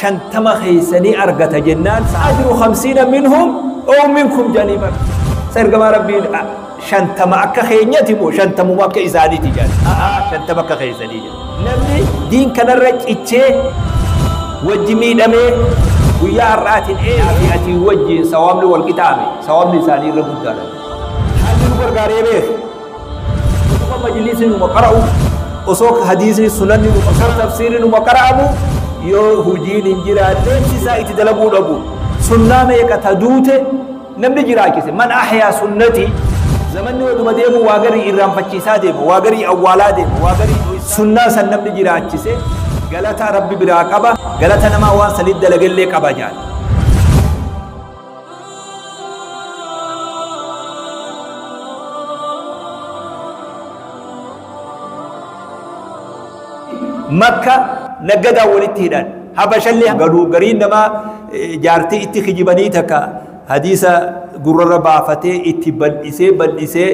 shantama keessa ni argata jennaan sa'ajiru hamsiina minhum oo minkum jedhanii bar sa ergamaa rabbiin shantama akka keenyati moo shantamuma akka isaaniiti jedhan shantama akka keessanii jedhan namni diin kanarra cichee wajji miidhamee guyyaa har'aatiin eefi atii wajjiin sawaabni wal qixaame sawaabni isaanii irra guddaadha haalli nu gargaaree beeku Osoo majliisni numa qara'u, osoo hadiisni sunanni numa osoo tafsiirri numa qara'amu yoo hojiin hin jiraanne isaa itti dalaguu dhabu. Sunnaa meeqa ta duute namni jiraachise man ahyaa sunnati zamanni waduma deemu waa garii irraanfachiisaa deema waa garii awwaalaa deema waa garii sunnaa san namni jiraachise galata rabbi biraa qaba galata namaa waan sanitti dalagellee qaba jaal. makka naggadaan walitti hidhan habashallee galuu gariin namaa jaartii itti kijibanii takka hadiisa gurrarra baafatee itti bal'isee bal'isee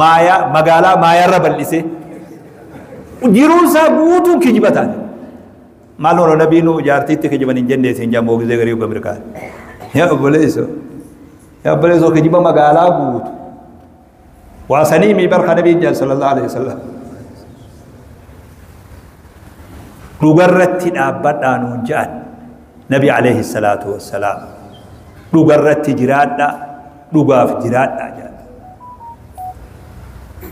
maayaa magaalaa maayaarra bal'isee jiruunsaa guutuun kijibataan Maaloo no nabii nu jaartiitti kijiban hin jennee siin jaa moogizee garii uga mirkaan. Yaa obboleesso. Yaa obboleesso kijiba magaalaa guutu. Waa sanii mii barka nabiin jaan sallallahu alaihi wasallam. Dhugarratti dhaabbadhaa nuun jaan. Nabi alaihi salaatu wassalaam. Dhugarratti jiraadhaa. Dhugaaf jiraadhaa jaan.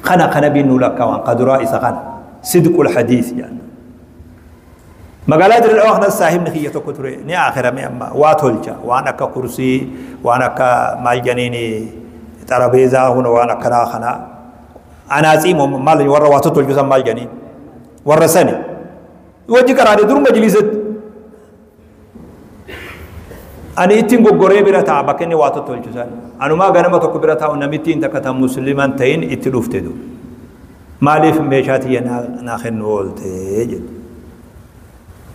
Kana kana biin nu lakkaawan kaduraa isa kana. Sidqul hadiis jaan. Magaalaa Dirree Dhawaa kanas saahibni kiyya tokko ture ni aakirame amma waa tolcha waan akka kursii waan akka maal janiini xarabeezaa huna waan akkanaa kana anaatsii moo maal warra waa tolchu san maal janii warra sani wajji qaraadee dur majliisatti Ani ittiin goggoree bira ta'a bakka inni waa tottolchu san. Anumaa ganama tokko bira taa'u namittiin takka tan musliman ta'in itti dhufte du. Maaliif meeshaa tiyya naa kennu oolte jedhe.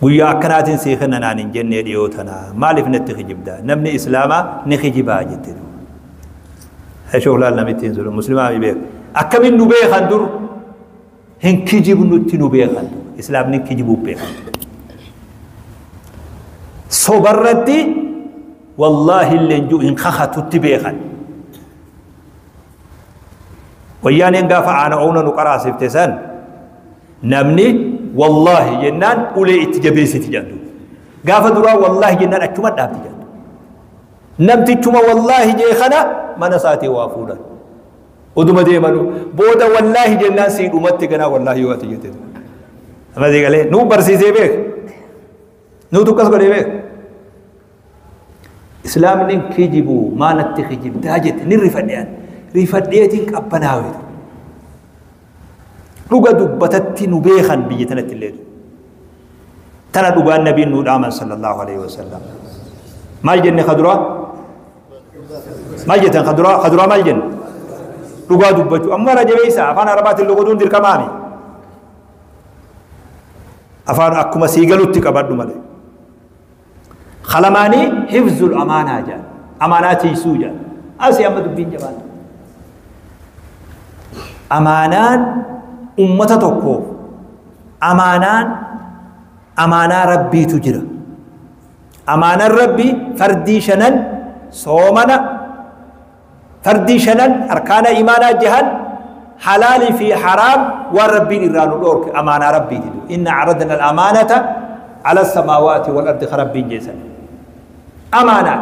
Guyyaa akkanaatiin sii kenna naan hin jennee dhiyoo tana maaliif natti kijibda namni islaamaa ni kijibaa jette du. Shooklaal namittiin sun muslimaa mi beeku. Akkamiin nu beekan dur Hin kijibnutti nu beekan. Islaamni kijibuuf beekan. Sobarratti wallaahi illee jiru hin kakatutti beekan. Wayyaaneen gaafa aana oona nu qaraasifte san namni wallaahi jennaan ulee itti jabeessiti jedhu. Gaafa duraa wallaahi jennaan achuma dhaabdi jedhu. Namtichuma wallaahi jee kana mana isaatii waa fuudhan. Oduma deemanu booda wallaahi jennaan sii dhumatte ganaa wallaahi yoo ati jette. Amma sii galee nuu barsiisee beek. Nuu tukkas godhee beek. Islaamni kijibu maalatti kijibdaa jette ni rifadheen. Rifadheetiin qabbanaawe. Dhuga dubbatatti nu beekan biyya tanatti illee. Tana dhugaan nabiin nuu dhaaman sallallahu alaihi wasallam. Maal jenne kaduraa? maal jettan kaduraa kaduraa maal jenna dhugaa dubbachuu amma irra jabeessa afaan arabaatiin logoduun dirqamaami afaan akkuma sii galutti qabadhu malee kalamaanii hifzul amaanaa jedhan amaanaa tiisuu jedhan asii amma dubbiin jabaan amaanaan ummata tokkoof amaanaan amaanaa rabbiitu jira Amaanan Rabbii fardii shanan soomana fardii shanan arkaana imaanaa jahan halaalii fi haraam waan Rabbiin irraa nu dhoorke amaanaa Rabbiiti. Inna aradna al-amaanata ala samaawaati wal ardi ka Rabbiin jeesan. Amaanaa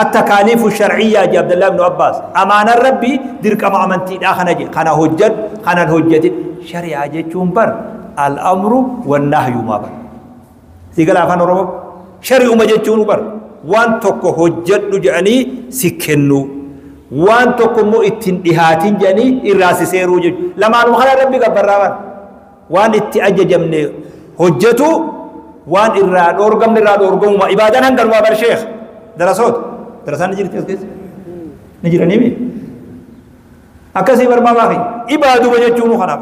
attakaaliifu sharciyyaa je Abdallaa ibnu Abbaas. Amaanan Rabbii dirqama amantiidhaa kana je kana hojjadhu kanan hojjatin shari'aa jechuun bar al-amru wan nahyu maa bar. Sii gala afaan Oromoo? Shari'uma jechuun bar waan tokko hojjedhu jedhanii si kennuu. Waan tokko immoo ittiin dhihaatiin jedhanii irraa si seeruu jechuudha. Lamaanuma kana rabbi gabbarraa bara. Waan itti ajajamne hojjetu waan irraa dhoorgamne irraa dhoorgamuma. Ibaadaan hanganumaa bar sheekh. Darasoota. Darasaan ni jirti as keessa. Ni jiranii mii? Akkasii barmaa maafi? Ibaaduma jechuun kanaaf.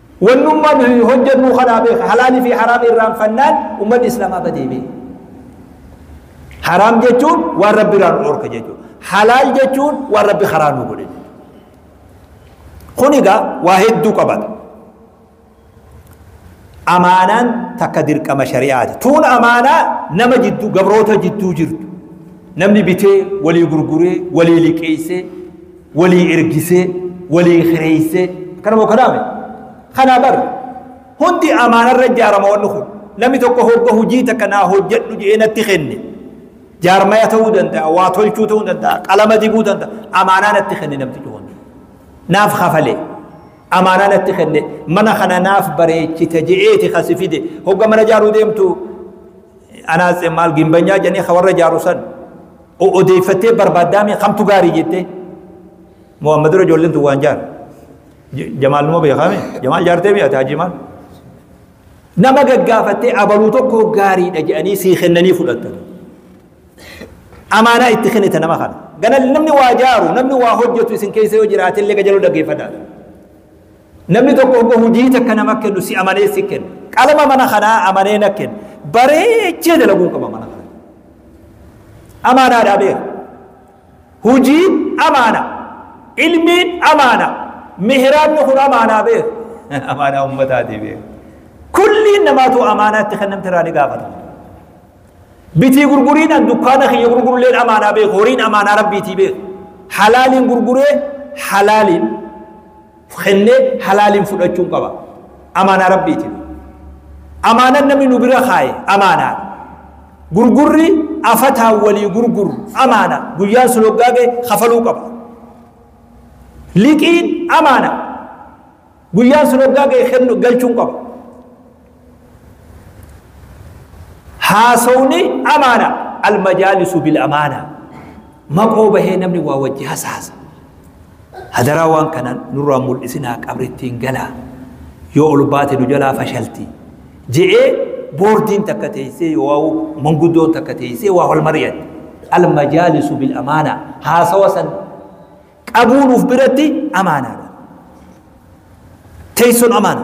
Wannumma nuyi hojjannuu kanaa beeka halaali fi haraam irraanfannaan ummanni islamaa badee bee. Haraam jechuun waan rabbi irraa nu dhorke jechuudha. Halaal jechuun waan rabbi karaa nu godhe jechuudha. Kun egaa waa hedduu qabata. Amaanaan takka dirqama shari'aati. Tuun amaanaa nama jidduu gabroota jidduu jirtu. Namni bitee walii gurguree walii liqeessee walii ergisee walii kireessee kana moo kanaame kanaa bar hundi amaanarra ijaarama wanni kun namni tokko hogga hojii takka naa hojjedhu jedhee natti kenne jaarmaya ta'uu danda'a waa tolchuu ta'uu danda'a qalama dibuu danda'a amaanaa natti kenne namti cuwan naaf kafalee amaanaa natti kenne mana kana naaf bareechita je'eeti kasi fide hogga mana jaaruu deemtu anaas maal gimbanyaa jedhanii ka warra jaaru san odeeffattee barbaaddaa mee kamtu gaarii jettee moo amma dura ijoolleen tun waan jaara jamaal numa beekaame jamaal jaartee mi'ate hajii maal nama gaggaafattee abaluu tokko gaariidha jedhanii sii kennanii fudhattan amaanaa itti kennita nama kana ganal namni waa jaaru namni waa hojjetu isin keessa yoo jiraate illee gajaloo dhaggeeffadha namni tokko oggo hojii takka nama kennu si amanee si kenna qalama mana kanaa amanee na kenna bareechee dalaguun qaba mana kana Amaanaa dhaabeera. Hujiin amaana. Ilmiin amaana. Mihraabni kun amaanaa beer. Amaanaa ummataati beer. Kulliin namaatu amaanaa itti kennamte irraa ni gaafatama. Bitii gurguriidhaan dukkaana kiyya gurgurulleen amaanaa beeku. Horiin amaanaa rabbiitii beeku. Halaaliin gurguree halaaliin kennee halaaliin fudhachuun qaba. Amaanaa Rabbiitiif. Amaanan namni nu bira kaaye amaanaa. Gurgurri afataan walii gurguru amaana. Guyyaan sun hoggaa ga'e kafaluu qaba. Liqiin amaana. Guyyaan sun hoggaa ga'e kennu galchuun qaba. haasawni amaana almajaalisu bil amaana maqoo bahee namni waa wajji hasaasa hadaraa waan kana nurraa mul'isinaa qabrittiin galaa yoo ol baate nu jalaa fashalti je'ee boordiin takka teessee yoo manguddoon takka teessee waa wal mari'atte almajaalisu bil amaana haasawa san qabuu nuuf biratti amaanaadha teessoon amaana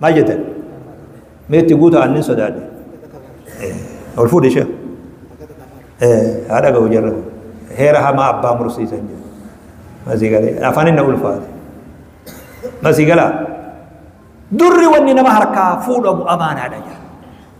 Maal jettan? Mee itti guuta aannin sodaadhe. Ol fuudhi ishee. Haa dhaga'u jarra. Heera hamaa abbaa mursiisan jedhu. Masii galee afaan inni ulfaate. Masii galaa. Durri wanni nama harkaa fuudhamu amaanaadha jedha.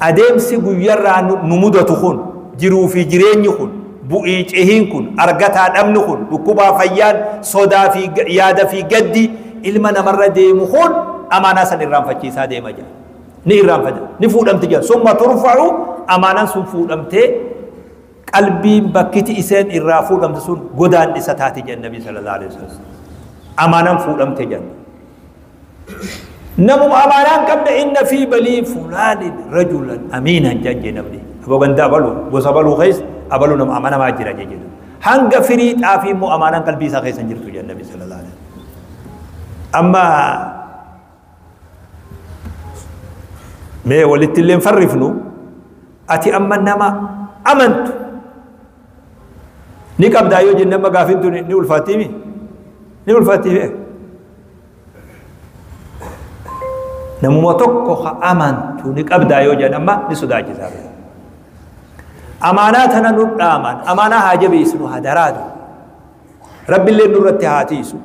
Adeemsi guyyarraa nu mudatu kun, jiruu fi jireenyi kun, bu'ii cehiin kun, argataa dhabni kun, dhukkubaa fayyaan, sodaa fi yaada fi gaddi ilma namarra deemu kun amaanaa san irraanfachiisaa deema jedha. Ni irraanfata, ni fuudhamti jedha. Summa turfa'u amaanan sun fuudhamtee qalbiin bakkiti iseen irraa fuudhamtu sun godaannisa taati jedha Nabii sallallahu alaihi wasallam. Amaanan fuudhamte jedha. Namuma amaanaan qabne inna fi balii fulaanin rajulan amiinan jedhan jee namni. Aboo gandaa baluu gosa baluu keessa abaluu nama amanamaa jira jee jedhu. Hanga firii xaafii immoo amaanaan qalbii isaa keessa hin jirtu jedhan nabi sallallahu alaihi wasallam. Amma mee walitti illee farrifnu ati amma nama amantu ni qabdaa yoo jenne amma gaafiin tun ni ulfaattiimi ni ulfaattiimi namuma tokko ha amantu ni qabdaa yoo jedhan amma ni sodaachisaa ture. Amaanaa tana nu dhaaman amaanaa haa jabeessinu haa daraadu. Rabbillee nurratti haa tiisu.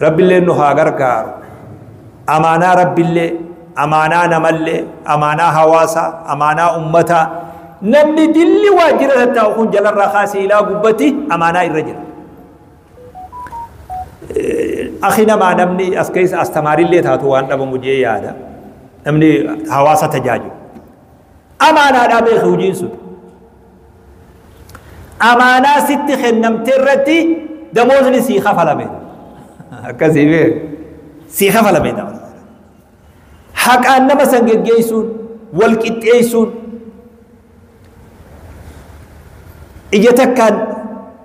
Rabbillee nu haa gargaaru. Amaanaa rabbillee amaanaa namallee amaanaa hawaasaa amaanaa ummataa namni dilli waajjira tattaa'u kun jalarraa kaasee ilaa gubbatti amaanaa irra jira. Akhi namaa namni as keessa astamaariillee taatu waan dhabamu jee yaada. Namni hawaasa tajaajilu. Amaanaadhaa beeku hojiin sun. Amaanaa sitti kennamte irratti damoosni sii kafalame. Akkasii bee sii kafalame damoosni. Haqaan nama san geggeessuun wal qixxeessuun ija takkaan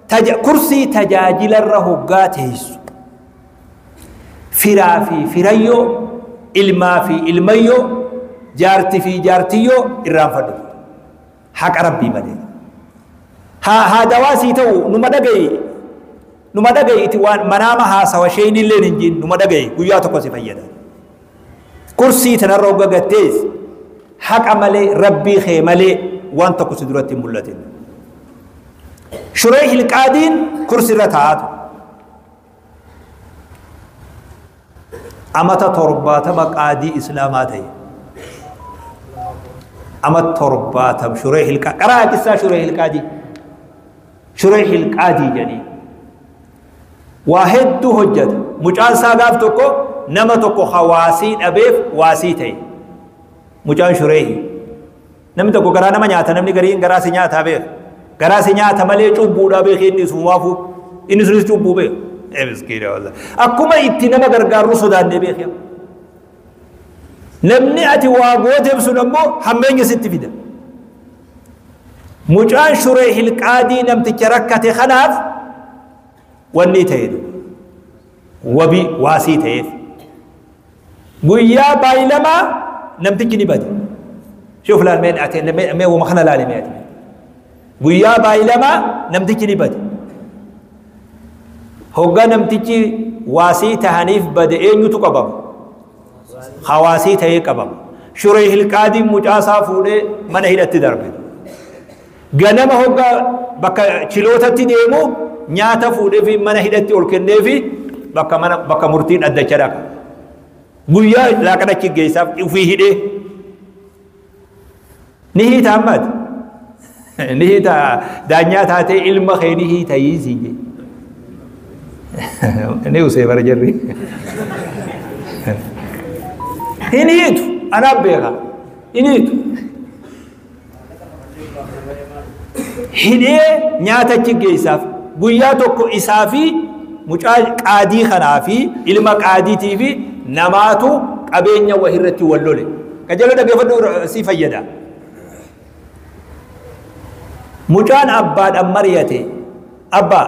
taja, kursii tajaajilarra hoggaa teessu firaa fi firayyoo ilmaa fi ilmayyoo jaarti fi jaartiyyoo irraanfadhu haqa rabbii malee haa haa dawaa sii ta'u numa dhaga'i numa dhaga'i itti waan manaama haasawa sheenillee hin jiin numa dhaga'i guyyaa tokko si fayyada Kursii tanarra hogga gad teesse haqa malee rabbii kee malee waan tokko si duratti hin mul'atin. Shuree hilqaadiin kursi irra taa'aa ture. Amata torbaatama qaadii islaamaa ta'e. Amata torbaatam shuree hilqaa qaraa hadisaa shuree hilqaadii. Shuree hilqaadii jedhanii. waa hedduu hojjate mucaan isaa gaaf tokko nama tokko ka waasii dhabeef waasii ta'e mucaan shureehi namni tokko garaa nama nyaata namni gariin garaa si nyaataa beek garaa si nyaata malee cubbuudhaa beek inni sun waafuu inni sunis cubbuu beek Eh, miskiina wallah. akkuma itti nama gargaarru sodaannee beek yaa. namni ati waa gooteef sun ammoo hammeenya sitti fida Mucaan shuree hilqaadii namticha rakkate kanaaf wanni ta'e wabi waasii ta'eef guyyaa baayilamaa namtichi ni bade shuuf laal mee ati mee wama kana laale mee ati guyyaa baayilamaa namtichi ni bade hoggaa namtichi waasii tahaniif bade eenyutu qabama hawaasii ta'ee qabama. Shuree Hilqaadiin mucaa isaa fuudhee mana hidhatti darbe. Ganama hoggaa bakka chilootatti deemu nyaata fuudheefi mana hidhatti ol kenneefi bakka mana bakka murtii dhaddacha dhaqa. Guyyaa laaqana chiggeessaaf ufii hidhee ni hiita ammaati ni hiita daanyaa taatee ilma kee ni hiita hiisii jee ni usee bara jarri hin hiitu anaa beeka hin hiitu hidhee nyaata achi geessaaf guyyaa tokko isaa fi mucaa qaadii kanaa fi ilma qaadiitii fi namaatu qabeenya wahirratti wal lole. Qajeeloo dhaggeeffadhu si fayyada. Mucaan abbaadhaan mari'ate abbaa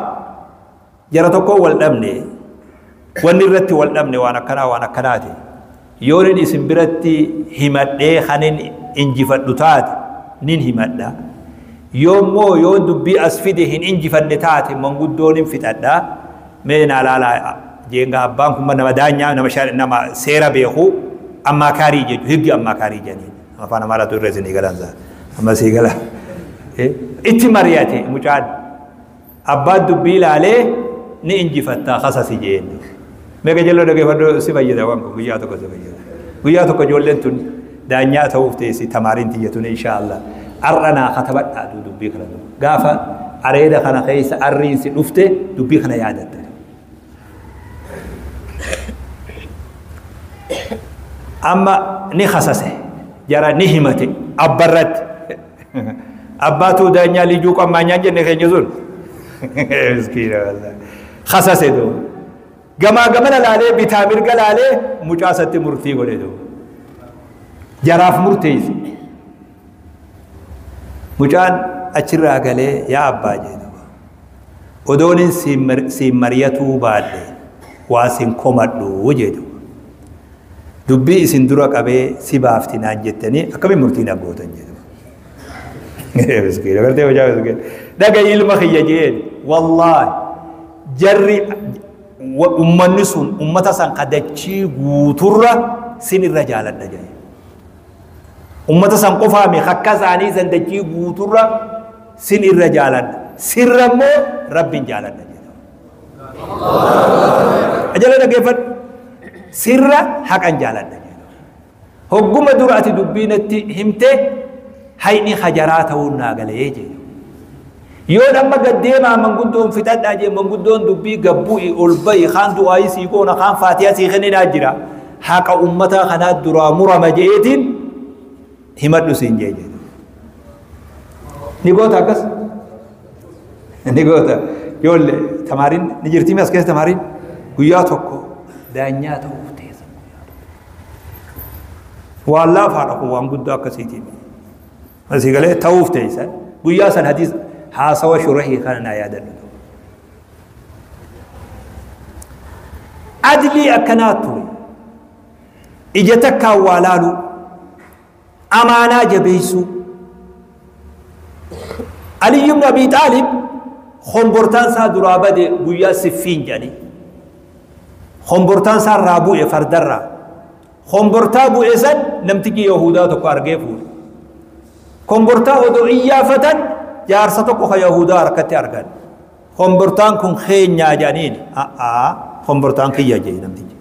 jara tokkoon wal dhabne wanni irratti wal dhabne waan akkanaa waan akkanaati. Yoonin isin biratti himadhee kanin injifadhu taate nin himadha. Yoommoo yoo dubbii as fide hin injifanne taate manguddoonin fixadha. Mee naa laalaa jeengaa abbaan kun nama daanyaa nama shar nama seera beeku ammaakaarii jechu higgi ammaakaarii jedhaniin afaan amaaraatu irra isinii galansa amma sii gala itti mari'ate mucaan abbaan dubbii laalee ni injifattaa kasasi jeen mee gajaloo dhageeffadhu si fayyada waan kun guyyaa tokko si fayyada guyyaa tokko ijoolleen tun Daanyaa ta'uuf teessi tamaariin tiyya tun inshaa'allah. Ar'a naa katabadhaa aduu dubbii kana dura. Gaafa areeda kana keessa arriin si dhufte dubbii kana yaadatta. Amma ni kasase jara ni himate abba irratti. Abbaatuu daanyaa lijuu qammaanyaan jenne keenya sun. Miskiina wallah. Kasase doo. Gamaa gamana laalee bitaa mirga laalee mucaa isatti murtii godhe duuba. Jaraaf murteesse. Mucaan achirraa galee yaa abbaa jee duuba. Odoon hin siin mar- siin mariyatuu baadhe waa siin komadhu jee duuba. Dubbii isin dura qabee si baafti naan jettanii akkamiin murtii na gootan jee duuba. Miskiina gartee hojaa miskiina. Dhaga'i ilma kiyya jeen wallaahi. Jarri ummanni sun ummata san ka dachii guuturra sin irra jaaladha jedhe. Ummata san qofaa mi akka isaanii san dachii guuturra sin irra jaaladha. Sirra immoo rabbiin jaaladha jedhe. Ajala dhaggeeffadhu. Sirra haqan jaaladha. Hogguma dura ati dubbii natti himte hayni hajaraa ta'uun naa galee jee. Yoon amma gad deemaa manguddoon fixadhaa jee manguddoon dubbii gabbu'i ol ba'i kaan du'aayii sii goona kaan faatiyaa sii kenninaa jira. Haqa ummataa kanaa duraa murama jeetiin himadhu siin jee jee. Ni goota akkas? Ni goota. Ijoollee tamaariin ni jirtii as keessa tamaariin guyyaa tokko daanyaa ta'uuf waan laafaadha kun waan guddaa akkasiitiin asii galee ta'uuf teessan guyyaa san hadiis haasawa shurahii kana naa yaadadhu adlii akkanaa ture ija takkaan waa laaluu amaanaa jabeessuu Aliyyi ibn Abii Xaalib hombortaan isaa duraa bade guyyaa siffiin jedhanii hombortaan isaa irraa bu'e fardarraa hombortaa bu'e san namtichi Yahudaa tokko argee fuudhe hombortaa odoo iyyaafatan jaarsa tokko ka Yahudaa harkatti argan Kombortaan kun keenyaa jedhaniin a'aa kombortaan kiyya jee namtichi.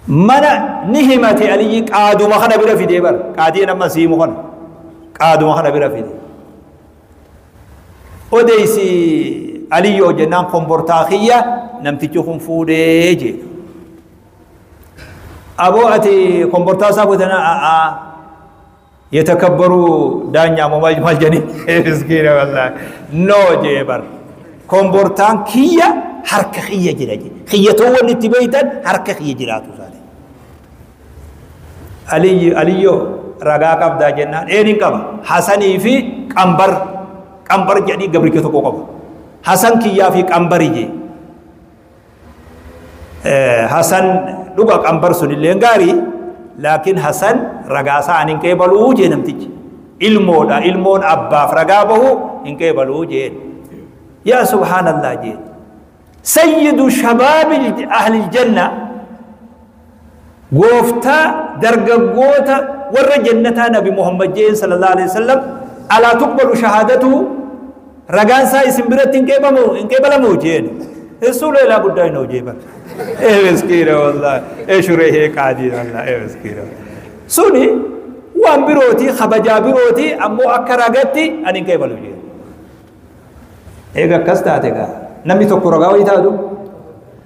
Mana ni himate aliyyi qaaduma kana bira fidee bara qaadiin amma siimu kana qaaduma kana bira fidee. Odeessi aliyyoo jennaan kombortaa kiyya namtichi kun fuudhee jee. Aboo ati kombortaa isaa fuutanaa a'aa Yetakabbaru daanyaa moo maal maal jedhani miskiina wallahi noo jee bar kombortaan kiyya harka kiyya jira jee kiyya too wanni itti beeytan harka kiyya jiraatu isaati aliyyi aliyyo ragaa qabdaa jennaan een hin qaba hasanii fi qambar qambar jedhii gabricha tokko qaba hasan kiyyaa fi qambari jee hasan dhuga qambar sunillee gaarii laakiin hasan ragaa isaa an hin qeebaluu jee namtichi ilmoodha ilmoon abbaaf ragaa bahu hin qeebaluu jeen yaa subhaanallah jeen sayyidu shabaabi ahli iljanna Gooftaa dargaggoota warra jannataa Nabi Muhammad jeen sallallahu alaihi wasallam alaa tuqbalu shahaadatu ragaan isaa isin biratti hin qeebamu hin qeebalamu jeen Rasuula ilaa guddaa hin hojii bar. Ee miskiina wallahi ee shuree hee qaadii wallahi ee miskiina. Suni waan birooti kabajaa birooti ammoo akka ragatti ani hin qeebalu jeen. Eega akkas taate gaa namni tokko ragaa wayii taatu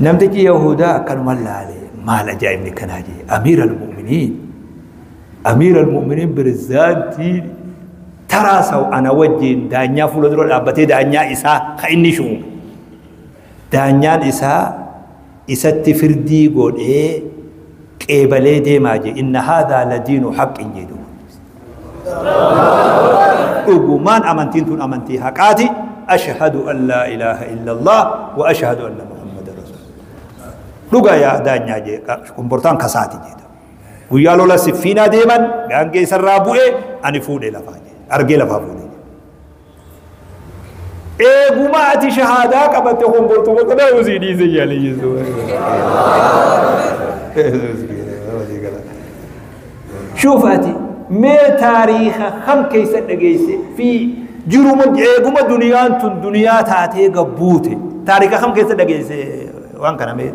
Namtichi Yahudaa akkanuma laale maal ajaa'ibni kanaa jee Amiir al-Mu'miniin Amiir al-Mu'miniin pirezidaantii taraa saw ana wajjin daanyaa fuula dura dhaabbatee daanyaa isaa ka inni shuume daanyaan isaa isatti firdii godhee qeebalee deemaa jee inna haadaa ladiinu haqqin jedhu dhugumaan amantiin tun amantii haqaati ashhadu an laa ilaaha illallah wa ashhadu anna muhammadan rasuulullah dhuga yaa daanyaa jee kombortaan kasaati jeeta guyyaa lola siffiinaa deeman gaangee isarraa bu'e ani fuudhe lafaa jee argee lafaa fuudhe Eeguma ati shahaadaa qabatte honbortu bakka ta'uu sii dhiise yaali Yesuus. Shuuf ati mee taariikha kam keessa dhageesse fi jiruma eeguma duniyaan tun duniyaa taatee gabbuute taariikha kam keessa dhageesse waan kana mee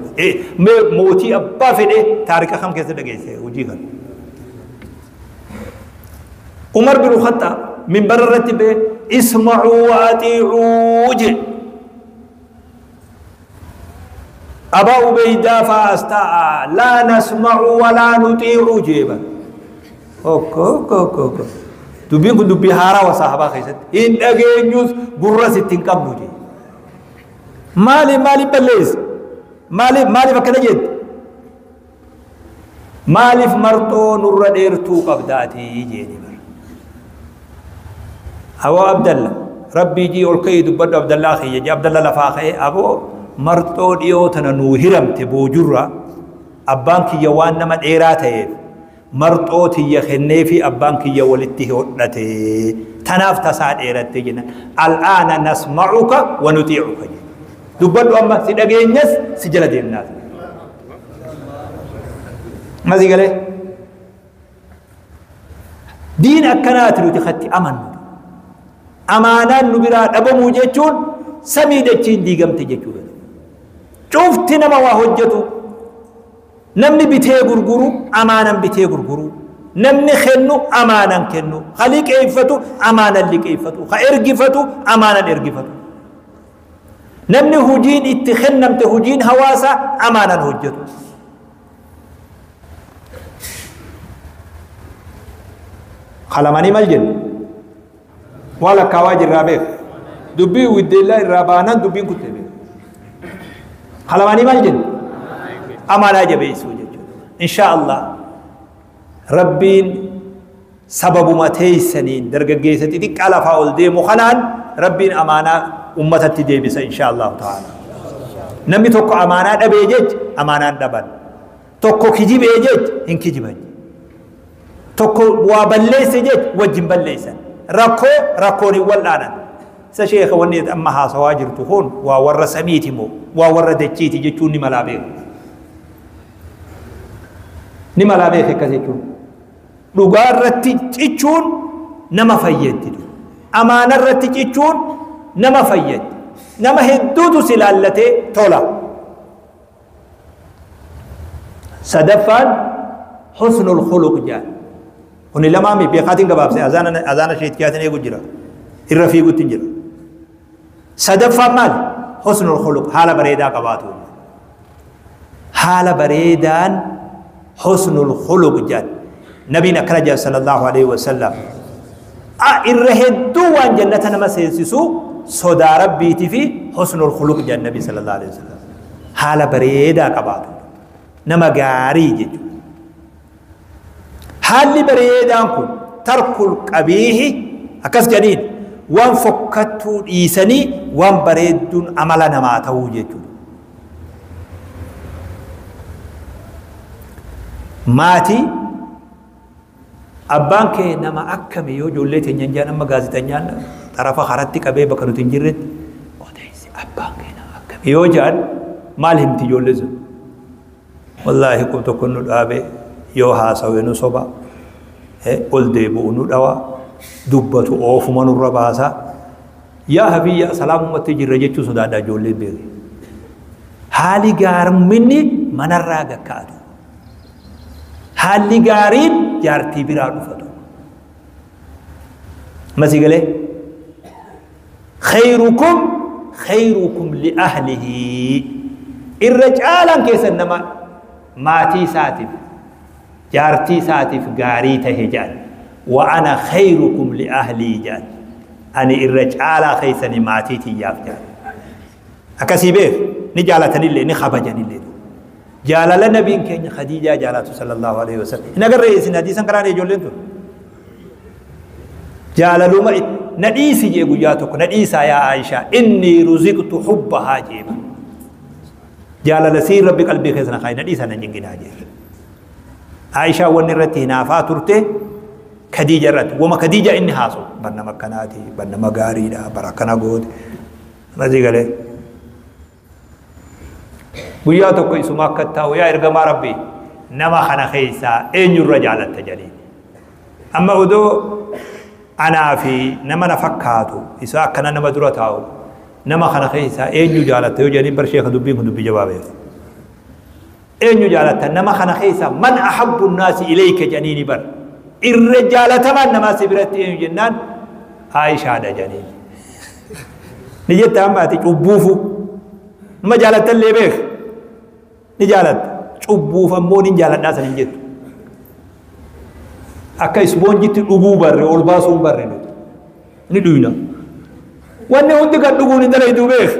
mee mootii abbaa fedhe taariikha kam keessa dhageesse hojii kana. umar bin khaxxaab minbara irratti ba'e isma'uu wa atiicuu jee abaa ubeydaa fa'aas ta'a laa nasma'u walaa nutiicu jee bar okko okko okko okko dubbiin kun dubbii haaraa wa sahabaa keessatti hin dhageenyus gurras itti hin qabnu jee maaliif maaliif balleessa maaliif maaliif akkana jette Maaliif marxoo nurra dheertuu qabda ati jeeni bara. Aboo Abdalla rabbii jii ol ka'ii dubbadhu Abdallaa kiyya jee Abdalla lafaa ka'ee aboo marxoo dhiyoo tana nuu hiramte boojurra abbaan kiyya waan nama dheeraa ta'eef marxoo tiyya kenneefi abbaan kiyya walitti hodhate tanaaf tasaa dheeratte jenna al'aana nasma'uka wa nutii'uka jenna dubbadhu amma si dhageenyas si jala deemnaas masii galee diin akkanaati nuti katti amannu amaanaan nu biraa dhabamuu jechuun samii dachiin diigamte jechuudha cufti nama waa hojjetu Namni bitee gurguru amaanan bitee gurguru. Namni kennu amaanan kennu. Ka liqeeffatu amaanan liqeeffatu. Ka ergifatu amaanan ergifatu. Namni hujiin itti kennamte hujiin hawaasa amaanan hojjetu. Kalamanii mal jenna? Waa lakkaawaa jirraa beek. Dubbii widdeellaa irraa baanaan dubbiin kutte beek. Halamaanii maal jenna? Amanaa jabeessuu jechuudha. Inshaa Allah rabbiin sababuma teessaniin dargaggeessa xixiqqaa lafaa ol deemu kanaan rabbiin amaanaa ummatatti deebisa inshaa Allah ta'ala. Namni tokko amaanaa dhabee jecha amaanaan dhaban. tokko kijibee jech hin kijiban tokko waa balleesse jech wajjin balleessan rakkoo rakkoon hin wal'aanan isa sheeka wanni amma haasawaa jirtu kun waa warra samiiti moo waa warra dachiiti jechuun ni malaa beeku ni malaa beeku akkas jechuun dhugaa irratti cichuun nama fayyaddi amaana irratti cichuun nama fayyaddi nama hedduutu si laallatee tola sadaffaan husnul khuluq jaan kuni lamaa mi beekaatiin gabaabse azaana azaana sheetkiyaatiin eegu jira irra fiigutti jira sadaffaan maali husnul khuluq haala bareedaa qabaatu haala bareedaan husnul khuluq jedhan nabiin akkana jedhan sallallahu alaihi wasallam a irra hedduu waan jannata nama seensisu sodaa rabbiitii fi husnul khuluq jedhan nabii sallallahu alaihi wasallam haala bareedaa qabaatu nama gaarii jechuudha haalli bareedaan kun tarkul qabiihi akkas jedhaniin waan fokkattuu dhiisanii waan bareedduun amala namaa ta'uu jechuudha Maatii abbaan kee nama akkami yoo ijoollee teenyaan jaan amma gaazexanyaan xarafa haratti qabee bakka nuti hin jirretti odeessi abbaan kee nama akkami yoo jaan maal himti ijoollee sun? Wallaahi qub tokko nu dhaabe yoo haasawe nu soba ol deebi'u nu dhawa dubbatu oofuma nurra baasa yaa habiyya salaamumatti jirra jechuu sodaadha ijoolleen beeke haali gaarminni manarraa gakka'atu haalli gaariin jaartii biraa dhufatu masi galee Kheyrukum kheyrukum li ahlihi. Irra caalaan keessan nama maatii isaatiif, jaartii isaatiif gaarii tahe jedhan. Wa ana kheyrukum li ahlii jedhan. Ani irra caalaa keessanii maatii tiyyaaf jedhan. Akkasii beef ni jaalatanillee ni kabajanillee. Jaalala nabiin keenya Khadiijaa jaalatu sallallahu alaihi wasallam. Hin agarree isin hadiisan karaan ijoolleen tun. jaalaluma na dhiisi jee guyyaa tokko na dhiisaa yaa Aishaa inni ruziqtu hubbahaa jeeba jaalala sii rabbi qalbii keessa na kaayi na dhiisaa na nyinginaa jee Aishaa wanni irratti hinaafaa turte Khadiija irratti wama Khadiija inni haasu barnama akkanaati barnama gaariidha bara akkana goote mazii galee guyyaa tokko isuma akka taa'u yaa ergamaa rabbi nama kana keessaa eenyurra jaalatta jedheen amma odoo anaa fi nama na fakkaatu isa akkana nama dura taa'u nama kana keessaa eenyu jaalatta yoo jedhanii barshee ka dubbiin kun dubbii jabaa beeku Eenyu jaalattan nama kana keessaa man ahabbu naasi ilayka janiini bar. Irra jaalatamaan namaa si biratti eenyu jennaan Aishaadha janiini. Ni jetta amma ati cubbuufu. Nama jaalattan illee beeka. Ni jaalatta. Cubbuuf ammoo nin jaaladhaa san hin jettu. Akka isboonjitti dhuguu barre ol baasuu hin barre nuti. Ni dhuyna. Wanni hundi kan dhuguun hin dalayduu beeka.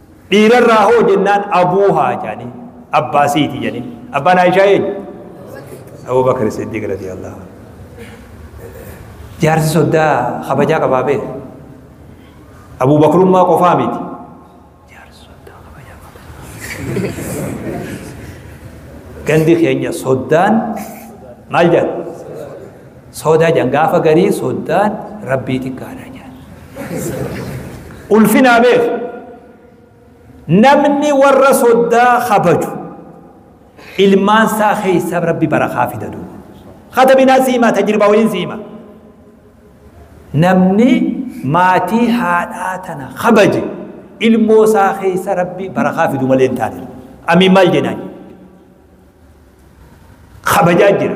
Dhiirarraa hoo jennaan abuuhaa jaaniin. Abbaa siiti jaaniin. Abbaan Aishaa eenyu? Abu Bakr Siddiq radiyallahu anhu. Jaarsi soddaa kabajaa qabaa bee. Abu Bakrummaa qofaa miti. Jaarsi soddaa kabajaa qaba. Gandi keenya soddaan maal jedha? Soda jan gafa garii soddaan rabbii xiqqaadha jan. Ulfinaa beeku. Namni warra soddaa kabaju ilmaan isaa keessa rabbi barakaa fida duuba. Hata binaa siimaa tajriba waliin siimaa. Namni maatii haadhaa tana kabaje ilmoo isaa keessa rabbi barakaa fidu malee hin taane. Amiin maal jenaan? Kabajaa jira.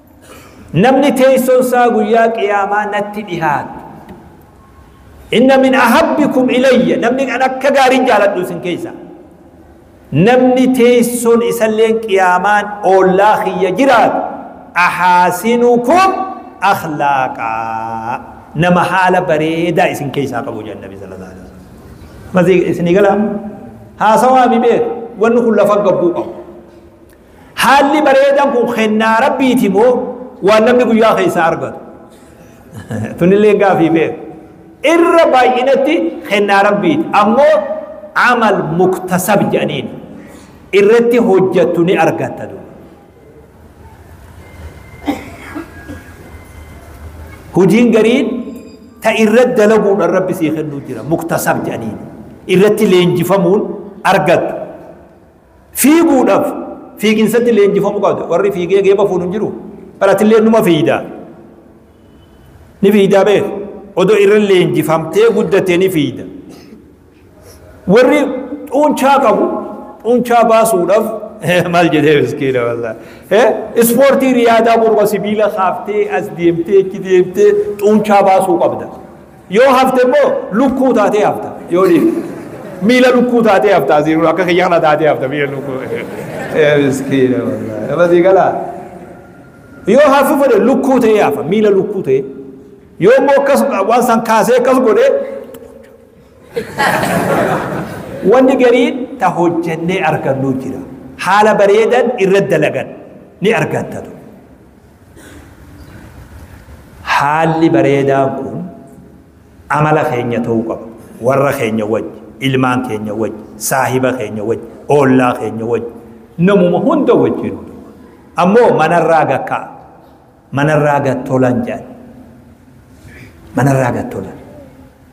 Namni teessoon isaa guyyaa qiyaamaa natti dhihaatu. Inna min ahabbikum ilayya namni kan akka gaariin jaaladhu isin keessa. Namni teessoon isalleen qiyaamaan oollaa kiyya jiraatu ahaasinukum akhlaaqaa nama haala bareedaa isin keessaa qabu jedhan nabi sallallahu alaihi wasallam. Masii isinii galaa haasawaa mi beeku wanni kun lafa gabbuu qabu. Haalli bareedan kun kennaa rabbiiti moo waan namni guyyaa keessaa argatu? Tunillee gaafii beeku. Irra baay'inatti kennaa rabbiiti. Ammoo amal muktasab jedhaniin irratti hojjattu ni argatta duuba. Hojiin gariin ta irratti dalaguudhaan rabbi sii kennuu jira muktasab jedhaniin irratti leenjifamuun argattu. Fiiguudhaaf fiiginsatti leenjifamuu qabda. Warri fiigee geeba fuudhu hin jiru. Bara atillee numa fiigda. Ni fiigdaa beeku. Odoo irra leenjifamtee guddattee ni fiigda. Warri xuunchaa qabu xuunchaa baasuudhaaf maal jedhee miskiina wallah. Ispoortii riyaadaa morma sibiila kaaftee as deemtee achi deemtee xuunchaa baasuu qabda. Yoo hafte immoo lukkuu taatee hafta. Yoo dhiifte. Miila lukkuu taatee hafta asii kun akka kiyya kana taatee hafta miila lukkuu. Eh, Miskiina wallaahi. Nama sii galaa. Yoo hafu fedhe lukkuu ta'ee hafa miila lukkuu ta'ee. Yoo immoo akkas waan san kaasee akkas godhee wanni gariin ta hojjennee argannu jira. Haala bareedan irra dalagan ni argattatu. Haalli bareedaan kun amala keenya ta'uu qaba. Warra keenya wajji, ilmaan keenya wajji, saahiba keenya wajji, oollaa keenya wajji, namuma hunda wajjin. Ammoo manarraa gakkaa, manarraa gad tolan jedhan. Manarraa gad tolan.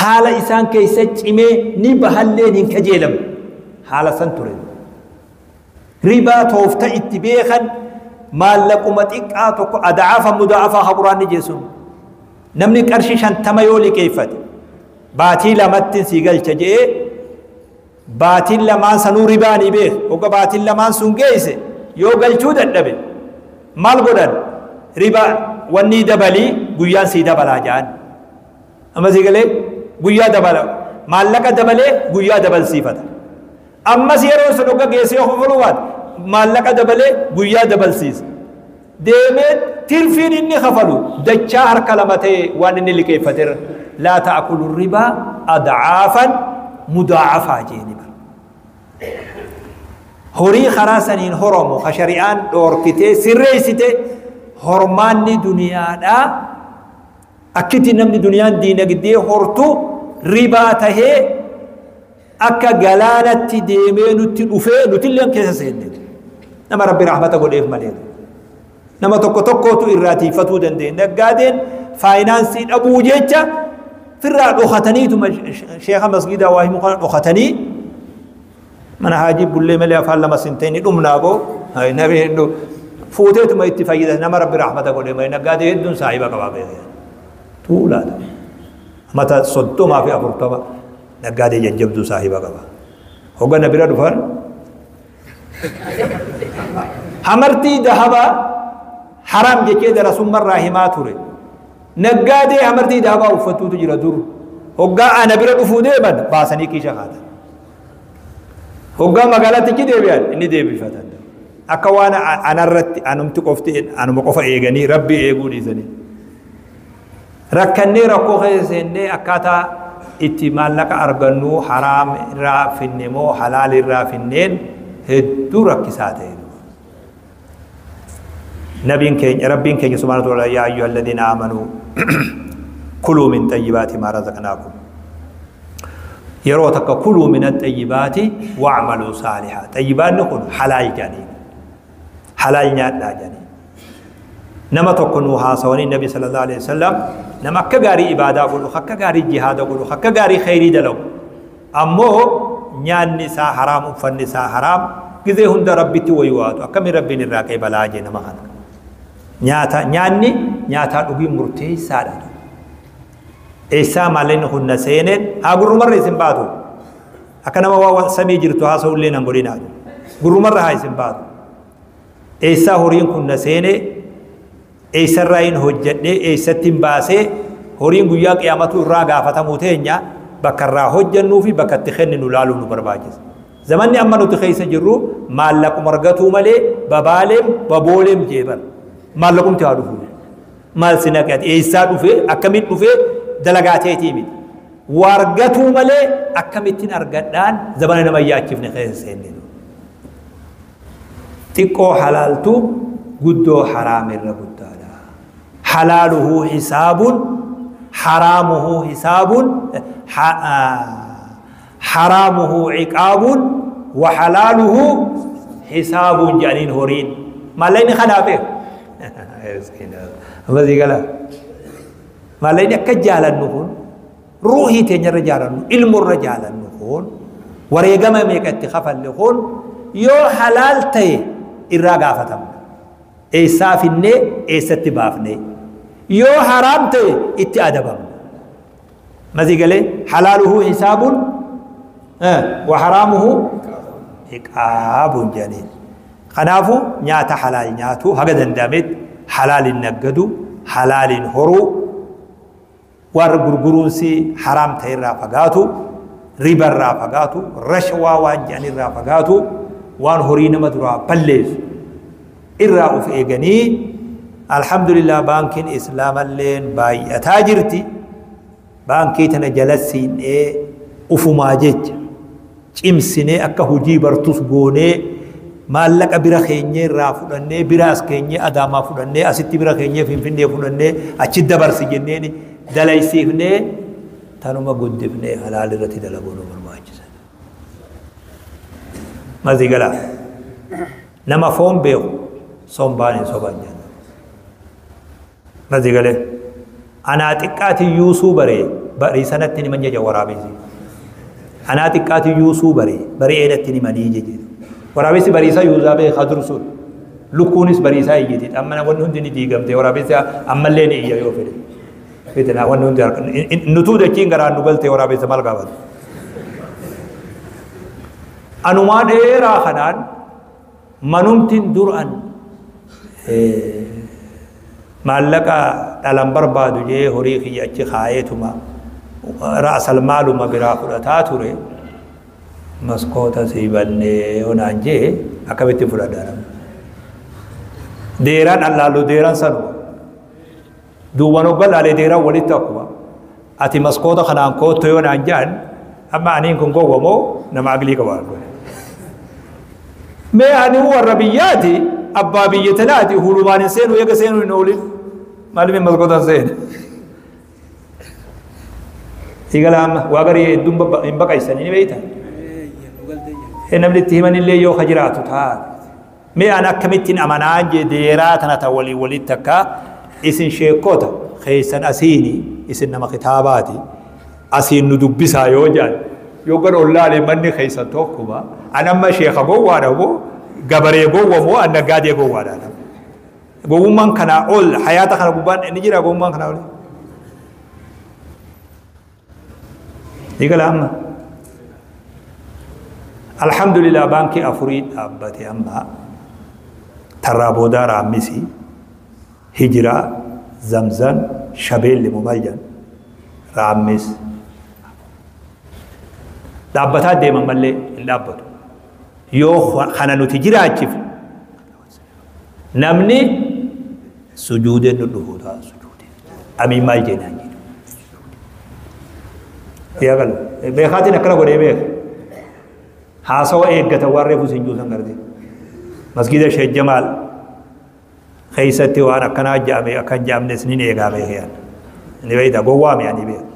Haala isaan keessa cimee ni bahalleen hin kajeelamu. Haala san ture. Ribaa toofta itti beekan maallaquma xiqqaa tokko adaafa mudaafaa haburaan ni jeesun. Namni qarshii shantama yoo liqeeffate baatii lamattiin sii galcha je'ee baatiin lamaan sanuu ribaanii beek hogga baatiin lamaan sun geeyse yoo galchuu dadhabe maal godhan riba wannii dabalii guyyaan sii dabalaa ja'an amma sii galee guyyaa dabala maallaqa dabalee guyyaa dabalsiifata ammas yeroo sun hogga geessee kofaluu baate maallaqa dabalee guyyaa dabalsiisa deemee tirfiin inni kafalu dachaa harka lama ta'e waan inni liqeeffaterra laa ta'akulu ribaa adcaafan mudaacafaa jeeni bara horii karaa saniin horomu ka shari'aan dhoorkitee sirreessite hormaanni duniyaadhaa akkitti namni duniyaan diinagdee hortu ribaa tahee akka galaanatti deemee nutti dhufee nutilleen keessa seenne nama rabbi rahmata godheef malee nama tokko tokkootu irraa tiifatuu danda'e naggaadeen faayinaansii dhabuu jecha firraa dhokataniituma sheeka masgiidaa waa himu kana dhokatanii mana haajii bullee malee afaan lama sintee ni dhumnaa boo nabi hedduu fuuteetuma itti fayyada nama rabbi rahmata godhee malee naggaadee hedduun saahiba qabaa beekee tuulaadha mata soddomaa fi afurtama Naggaadee jajjabduu saahiba qaba. Hoga na bira dhufan hamartii dahabaa haraam jechee darasummarraa himaa ture. Naggaadee hamartii dahabaa uffattuutu jira dur. Hoggaa ana bira dhufuu deeman baasanii kiisha kaatan. Hoggaa magaalattichi deebi'an inni deebifatan. Akka waan anarratti anumti qofti anuma qofa eeganii rabbi eeguu dhiisanii. rakkannee rakkoo keessa seennee akkaataa itti maallaqa argannu haraam irraa finne moo halaal irraa finneen hedduu rakkisaa ta'e nabiin keenya rabbiin keenya subhaanahu wa ta'ala yaa ayyuha alladhiina aamanuu kuluu min xayyibaati maa razaqnaakum yeroo takka kuluu min axayyibaati wa'maluu saalihaa xayyibaanni kun halaal jedhanii halaal nyaadhaa jedhanii nama tokko nuu haasawanii nabi sallallahu alaihi wasallam nama akka gaarii ibaadaa godhu akka gaarii jihaada godhu akka gaarii khayrii dalagu ammoo nyaanni isaa haraam uffanni isaa haraam gizee hunda rabbitti wayuwaatu akkamiin rabbiin irraa qeebalaa jee nama kana nyaata nyaanni nyaataa dhugii murteessaadha eessaa maalleen hunna seeneen haa gurrumarra isin baatu Akka nama waa wa- samii jirtu haasa'ullee nan godhinaa. Gurrumarra haa isin baatu. Eessaa horiin kun na seenee eessarraa hin hojjedhee eessatti hin baasee horiin guyyaa qiyaamatuu irraa gaafatamuu teenya bakka irraa hojjennuu fi bakka itti kenninu laaluu nu barbaachisa. Zamanni amma nuti keessa jirru maallaquma argatuu malee babaaleen babooleen jeeban maallaqumti haa dhufu. Maal si naqe ati eessaa dhufee akkamitti dhufee dalagaa teetii miti. Waa argatuu malee akkamittiin argadhaan zabana nama yaachifne keessa seenne. Xiqqoo halaaltu guddoo haraam irra guddaadha. Halaaluhu hisaabuun haraamuhu hisaabuun Haraamuhu ciqaabun wa halaaluhu hisaabun jedhaniin horiin. Maallaqni kanaa beeku. Amma sii gala. Maallaqni akka jaalannu kun ruuhii teenya irra jaalannu ilmu irra jaalannu kun wareegama meeqa itti kafalle kun yoo halaal ta'e irraa gaafatamna. Eessaa finnee eessatti baafnee yoo haraam ta'e itti adabamna. Natii galee halaaluhu hisaabuun waharaamuhu hiqaabuun jedhaniin. Kanaafuu nyaata halaal nyaatuu haga danda'ametti halaaliin naggadu halaaliin horuu warra gurguruunsi haraam ta'e irraa fagaatu riba irraa fagaatu rashawaa waan jedhan irraa fagaatu waan horii nama duraa balleessu irraa uf eeganii alhamdulillah baankiin islaamalleen baay'ataa jirti baankii tana jalassiin'ee ufumaa jecha cimsinee akka hojii bartus goonee maallaqa bira keenyee irraa fudhannee bira as keenyee adaamaa fudhannee asitti bira keenyee finfinnee fudhannee achi dabarsi jenneen dalaysiifnee tanuma guddifnee halaal irratti dalaguun nu barbaachisa. Mazi galaa. Nama foon beeku sombaan hin soban jedha. Nazi galee anaa xiqqaati yuusuu baree barii sanatti ni manjaja waraabessi. Anaa xiqqaati yuusuu baree barii eedatti ni manii jeje. Waraabessi bariisaa yuuzaa beekaa dursuun lukkuunis bariisaa iyyiti. Amma wanni hundi ni diigamte waraabessi ammallee ni iyya yoo fedhe. Fitina wanni hundi harka nutuu dachiin garaan nu galte waraabessa maal gaafata. Anumaa dheeraa kanaan manumtin dur an maallaqa dhalan barbaadu jee horii kiyya achi kaayeetuma ra'asal maaluma biraa fudhataa ture maskoota sii bannee onaan jee akkamitti fudhadha nama deeraan allaallu deeraan sanuma Duuban hogga laale deeran walitti akkuma ati maskoota kanaan kootto yoo naan ja'an amma aniin kun gowwa moo nama aglii qaba kun. Mee ani warra biyyaati abbaa biyya tanaati hulumaan hin seenu eega seenu hin oolin maalimi maskootaan seena. Sigala amma waa garii hedduun babba- hin baqaysanii ni beeytan. Ee, iyya, dhugaltee iyya. Namni itti himanillee yoo ka jiraatu taate. Mee an akkamittiin amanaa jee deeraa tana ta waliin walitti takka isin sheekkota keessan asiini isin nama kitaabaati asiin nu dubbisaa yoo jaan yoo gara ollaalee manni keessan tokkuma an amma sheeka gowwaadha moo gabaree gowwa moo an naggaadee gowwaadha nama gowwummaan kanaa ol hayaata kana gubbaan inni jira gowwummaan kanaa ol Eegala amma. Alhamdulillah baankii afurii dhaabbate amma tarraa boodaa raammisi hijiraa zamzam shabeelli moo maal jedhan raammis dhaabbataa deeman malee hin dhaabbatu. Yoo kana nuti jiraachifne namni sujuudee dhudhufu ta'a sujuudee abii maal jeenaan jedhu yaa galu beekaatiin akkana godhee beeka haasawa eeggata waan reefu sin juusan garte masgiida sheek jamaal keessatti waan akkanaa jaame akkan jaamnes nin eegaa beekeen ni beekta gowwaa mi'a ni beeka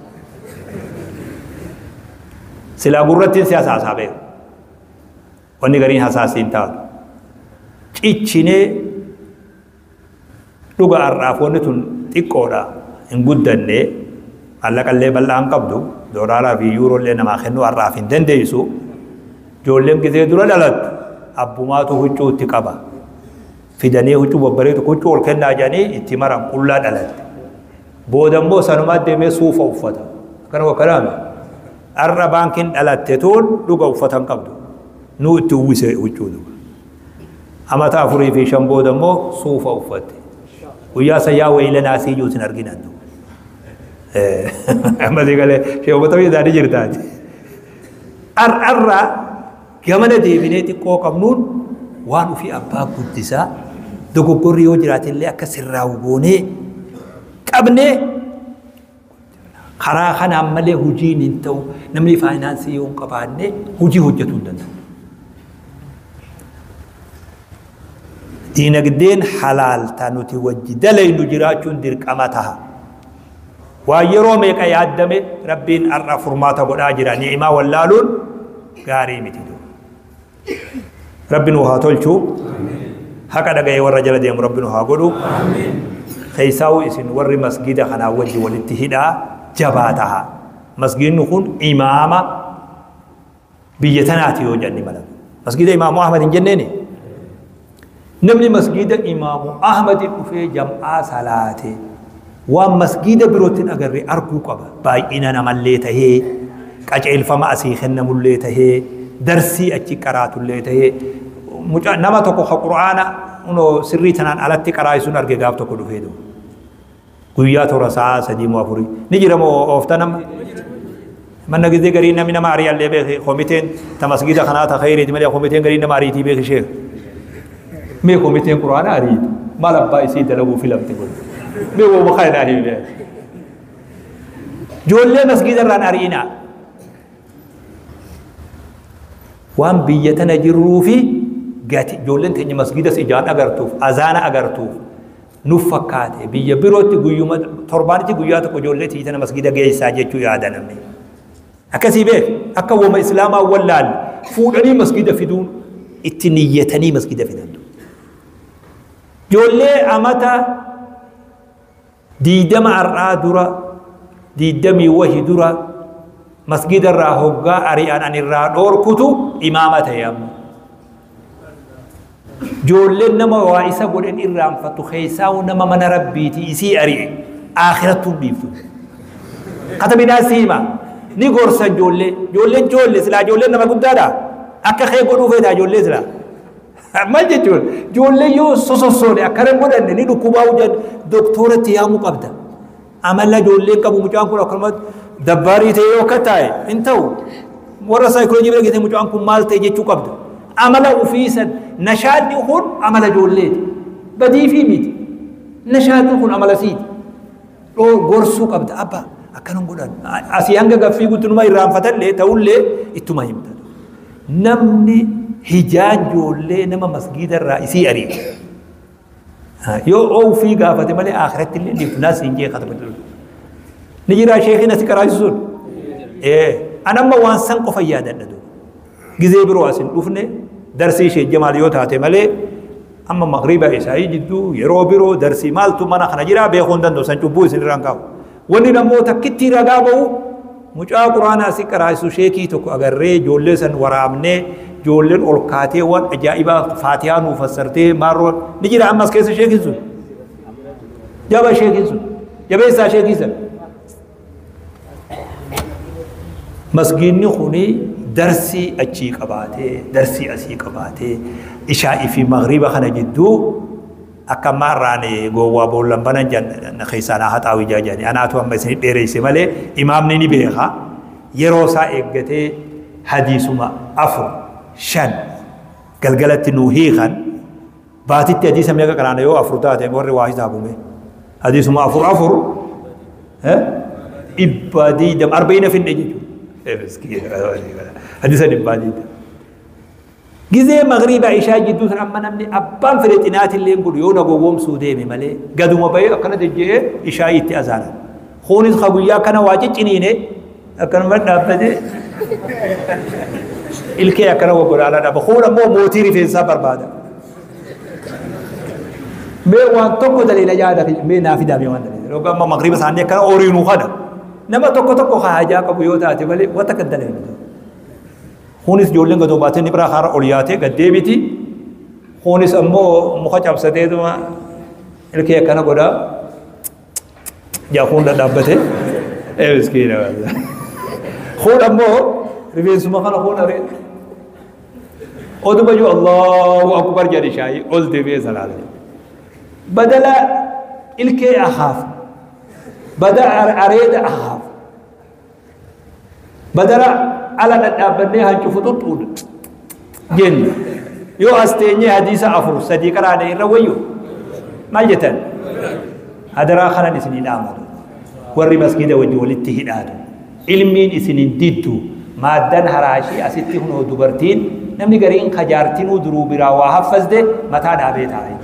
silaa gurrattiin siyaasa haasaa beeka Wanni gariin hasaasi hin taatu. Cichinee dhuga har'aaf wanni tun xiqqoodha hin guddanne maallaqallee bal'aa hin qabdu doolaaraa fi yuurollee namaa kennuu har'aaf hin dandeessu ijoolleen gizee dura dhalattu abbumaatu huccuu itti qaba fidanii huccuu babbareedu huccuu ol kennaa jedhanii itti maran qullaa dhalatte booda immoo sanumaa deemee suufa uffata akkana wakkanaami Arra baankin dhalatte tuun dhuga uffata hin qabdu. Nuu itti uwwise huccuu duba. Amata afurii fi shan booda immoo suufa uffatte. Guyyaa san yaa waylanaa sii juu sin argin addu. Ammasii galee sheekota fi isaanii jirtaati. Ar'arraa gamana deebinee xiqqoo qabnuun waan ofii abbaa guddisaa dogoggorri yoo jiraate illee akka sirraa'u goonee qabnee Karaa kanaan malee hojiin hin ta'u. Namni faayinaansii yoo hin qabaanne hojii hojjetuu hin danda'u. Diinagdeen halaal ta nuti wajji dalaynu jiraachuun dirqama taha. Waan yeroo meeqa yaaddame rabbiin har'a furmaata godhaa jira. Ni'imaa wallaaluun gaarii miti. rabbi nuu haa tolchu haqa dhaga'ee warra jala deemu rabbi nu haa godhu keessaa'u isin warri masgiida kanaa wajji walitti hidhaa jabaa taha masgiidni kun imaama biyya tanaati yoo jenni mala masgiida imaamu ahmad hin jenneeni Namni masgiida imaamu Ahmadi dhufee jam'aa salaate waan masgiida birootti hin agarre arguu qaba. Baay'ina namallee tahee, qaceelfama asii kennamullee tahee, darsii achi qaraatullee tahee, muca nama tokko ka qur'aana unoo sirrii tanaan alatti qaraa'isun arge gaaf tokko dhufee doo. Guyyaa tora sa'aa sadii moo afurii. Ni jira moo oofta nama? Manna gizee garii namni nama ari'an lee beeki komiteen ta masgiida kanaa ta khayriiti malee komiteen garii nama ariitii beeki sheek. Mee komiteen quraana ariitu maal abbaa isii dalaguu filamte kun. Mee woo maqaa inaa himi beeki. Joollee masgiida irraan ari'inaa. Waan biyya tana jirruu fi gati joolleen teenya masgiidas ijaan agartuuf azaana agartuuf nuf fakkaate biyya birootti guyyuma torbaanitti guyyaa tokko ijoollee tiyyi tana masgida geessaa jechuu yaada namni akkasii beek akka woma islaamaa wallaal fuudhanii masgida fiduun itti niyyatanii masgida fidan ijoollee amata diidama har'aa dura diidamii wahi dura masgida irraa hoggaa ari'an an irraa dhoorkutu imaama ta'e amma Joolleen nama waa isa godhen irraanfatu keessaa'u nama mana rabbiiti isii ari'e aakirattuu dhiiftu. Kata bidaa siima ni gorsan joollee joolleen joolle silaa joolleen nama guddaadha akka kee godhuu feetaa joollee silaa. Maal jechuun joollee yoo sosossoone akkana godhanne ni dhukkubaa'u jedhan doktooratti yaamuu qabda. Amala ijoollee qabu mucaan kun akkanumatti dabbaarii ta'ee yoo akka taa'e hin ta'u. Warra saayikooloojii bira geessee mucaan kun maal ta'e jechuu qabda. Amala ofii san nashaadni kun amala ijoolleeti. Badiifii miti. Nashaadni kun amala siiti. Dhoo gorsuu qabda abba akkanan godhan. Asii hanga gaffii guutuu numa irraanfatallee ta'ullee ittuma himta. Namni hijaan ijoollee nama masgiida irraa isii ari'e. Yoo oo ufii gaafate malee akhiratti illee ni fulaas hin jee khatama jiru. Ni jiraa sheekiin asi qaraasu sun. An amma waan san qofa yaadadha duuba. Gizee biroo asin dhufne darsii ishee jamaal yoo taate malee amma magriba isaa'ii jidduu yeroo biroo darsii maaltu mana kana jiraa beekuu hin danda'u san cubbuu isin irraan kaa'u. Wanni ammoo takkittii ragaa bahu mucaa quraanaa si qaraa'isu sheekii tokko agarree ijoollee san waraabnee ijoolleen ol kaatee waan ajaa'ibaa faatiyaa nuu fassartee maarroo ni jira ammas keessa sheekiin sun jaba sheekiin sun jabeessaa sheekii san masgiinni kuni darsii achii qabaatee darsii asii qabaatee ishaa fi magriba kana jidduu Akka ammaa irraa ani gowwaa boolla hin banan jan keessaa naa haxaawu ijaa jedhani. Anaatu amma isin dheereyse malee imaamni ni beeka. Yeroo isaa eeggatee hadiisuma afur shan galgalatti nuu hiikan baatitti hadiisa meeqa qaraana yoo afur taate warri waa hisaabume. Hadiisuma afur afur dhibbaa diidam arba'ina finne jechuudha. Hadiisa dhibbaa diidam. Gizee magriiba ishaa jidduu san amma namni abbaan fedhe xinaatilleen godhu yoo na gowwoomsuu deeme malee gaduma bahee akkana dejje'ee ishaa'ii itti azaanan. Kuunis ka guyyaa akkana waa cicciniine akkanuma dhaabbate ilkee akkana wagolaalaa dhaaba. Kuun ammoo mootii rifeensaa barbaada. Mee waan tokko daleela yaada mee naa fidaa mee waan daleela. Yookaan amma magriiba isaanii akkana oriinuu kana. Nama tokko tokko ka hajaa qabu yoo taate malee wanta kan daleela. Kunis ijoolleen gadoo baatee ni biraa kaara ol yaatee gad deebiti. Kunis ammoo muka cabsateetuma ilkee akkana godhaa. Jaakuun dhadhaabbatee. Ee miskiina. Kun ammoo rifeensuma kana kun aree. Oduma iyyuu Allahu Akbar jedhe shaayii ol deebi'ee salaata. Badala ilkee ahaaf. Badala areeda ahaaf. Badara ala dhadhaabbannee hancu fuxuxxuudha. Jenna. Yoo as teenyee hadiisa afur sadii qaraana irra wayyu maal jettan? Hadaraa kanan isinii dhaamatu. Warri masgiida wajji walitti hidhaatu. Ilmiin isinin diddu. Maaddan haraashii asitti hunoo dubartiin namni gariin kajaartinuu duruu biraa waa haffasde mataa dhaabee taa'e.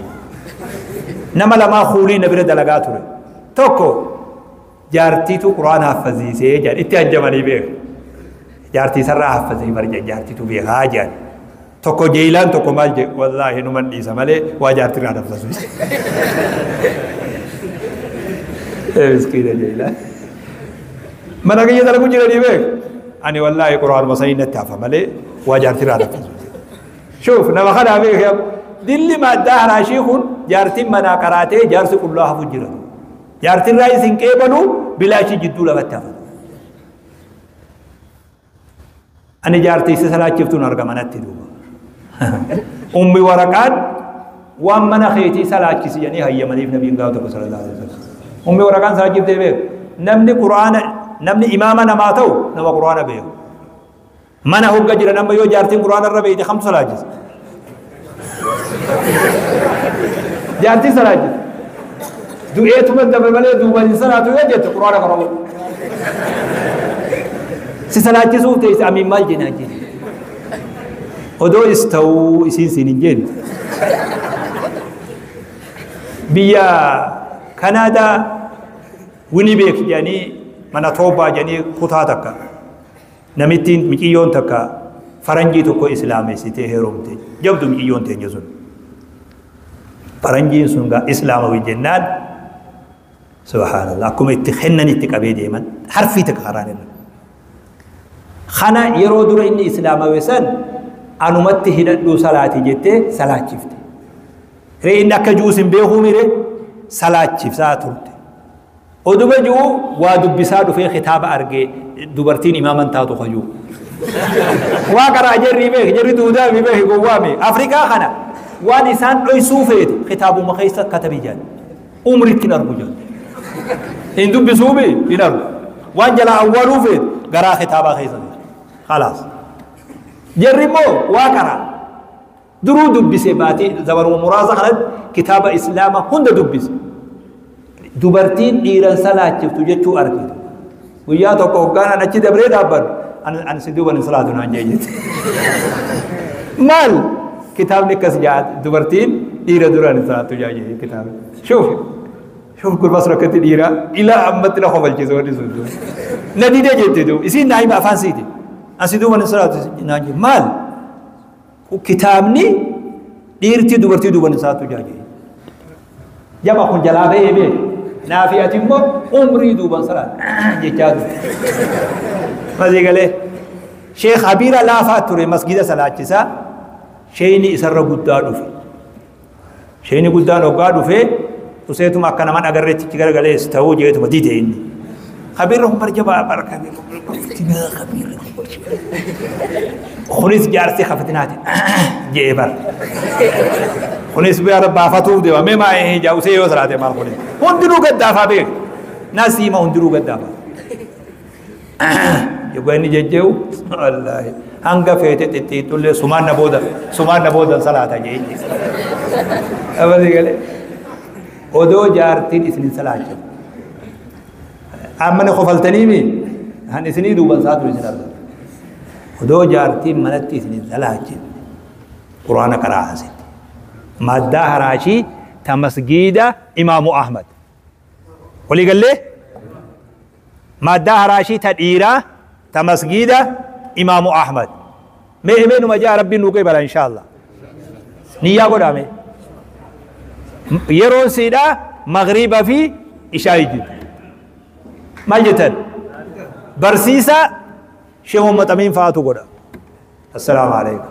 Nama lamaa kuulii na bira dalagaa ture. Tokko jaartiituu quraan haaffaziisee jedhan itti ajjamanii beeka jaartiisarraa haaffazii bar jedhan jaartiituu beekaa jedhan tokko jeeyilaan tokko maal jedhe wallaahi numan dhiisa malee waa jaartiirraa haffazuu miskiina jeeyilaan mana kiyya dalagu jiranii beeka ani wallaahi quraanuma sanii natti hafa malee waa jaartiirraa haffazuu shuuf nama kanaa beeka dilli maddaa haraashii kun jaartiin manaa qaraatee jaarsi qullaa hafu jiratu Jaartiin raayis hin qeebalu bilaashi jidduu lamatti hafa. Ani jaartii isa salaachiftuun argama natti duuba. Ummi waraqaan waan mana keetii salaachisi jedhanii hayyamaniif nabiin gaafa tokko sallallahu alaihi wasallam. Ummi waraqaan salaachiftee beeku. Namni Qur'aana namni imaama namaa ta'u nama Qur'aana beeku. Mana hogga jiran amma yoo jaartiin quraana irra beeyte kamtu salaachisa? Jaartiin salaachisa. Du'eetuma dabre malee duubaan hin salaatu yoo jette quraana kana godhu. Si salaachisuuf teesse amiin maal jenaa jenna. Odoo is ta'uu isiin siin hin jennu. Biyya Kanaadaa Winibeek jedhanii mana toobaa jedhanii kutaa takka. Namittiin miciyyoon takka faranjii tokko islaamessitee heerumte. Jabdu miciyyoon teenya sun. Faranjiin sun gaa islaamawi jennaan subhaanallah akkuma itti kennan itti qabee deeman harfii takka karaan irra. Kana yeroo dura inni islaamawe san anumatti hidhadhuu salaati jettee salaachifte. Ree inni akka juus hin beekuu mire salaachifsaa turte. Oduma ji'uu waa dubbisaa dhufee kitaaba argee dubartiin imaaman taatu kayuu. Waa qaraa jarri beeki jarri duudaa mi beeki gowwaa mi Afrikaa kana waan isaan dhoysuu feetu kitaabuma keessa katabi jedhan. Umritti hin argu jedhan. Hin dubbisuu mi hin argu. Waan jalaa awwaaluu feetu garaa kitaabaa keessa feetu. Khalaas. Jarri immoo waa qaraa. Duruu dubbise baatii zabaruma muraasa kanatti kitaaba islaama hunda dubbise. Dubartiin dhiiran salaachiftu jechuu arge. Guyyaa tokko hoggaan an achi dabree dhaabbadhu an an si duuban hin salaatu naan jee jette. Maal kitaabni akkas jaa dubartiin dhiira duraan hin salaatu jaa jee kitaabni. Shuuf shuuf gurbaa sun akkatti dhiira ilaa ammatti na kofalchiisa wanni sun duuba. Na didee jette duuba isiin naa hima afaan siiti. An si duuban hin salaatu naan jee maal? Kun kitaabni dhiirtii dubartii duban isaatu jira jedhe. Jama kun jalaa ba'ee bee. Naafi ati immoo umrii duuban saraan jechaa ture. Masii galee. Sheekh Habiira laafaa ture masgiida salaachisaa. Sheeyni isarra guddaa dhufe. Sheeyni guddaan hoggaa dhufee useetuma akka naman agarreetti itti garagalee ta'uu jeetuma dide inni. Kabiirra kun barja baabara kabiirra fitinaa kabiirra kunis jaarsi ka fitinaati jee bar. Kunis bara baafatuuf deema mee maa hin hijaa usee yoo salaate maal kunis hundinuu gaddaafaa beeku nasiima hundinuu gaddaafaa. Dhugaa inni jejjee'u wallaahi hanga feete xixxiixxullee sumaan na booda sumaan na boodan salaata jeechi. Abasii galee odoo jaartiin isin hin salaacha. Amma na kofaltanii mi? Kan isinii duuban saatu isin arga. Odoo jaartiin manatti isin hin salaachin quraana qaraa haasiti. Maddaa haraashii ta masgiida imaamu Ahmad. Walii gallee maaddaa haraashii ta dhiiraa ta masgiida imaamu Ahmad. Mee himee numa ja'a rabbiin nuu qeebala inshaallah. Niyyaa godhaa mee. Yeroon siidhaa magriiba fi ishaa jiru. Maal jettan? Barsiisaa Sheekh Muhammad Amiin fa'aatu godha. Assalaamu alaikum.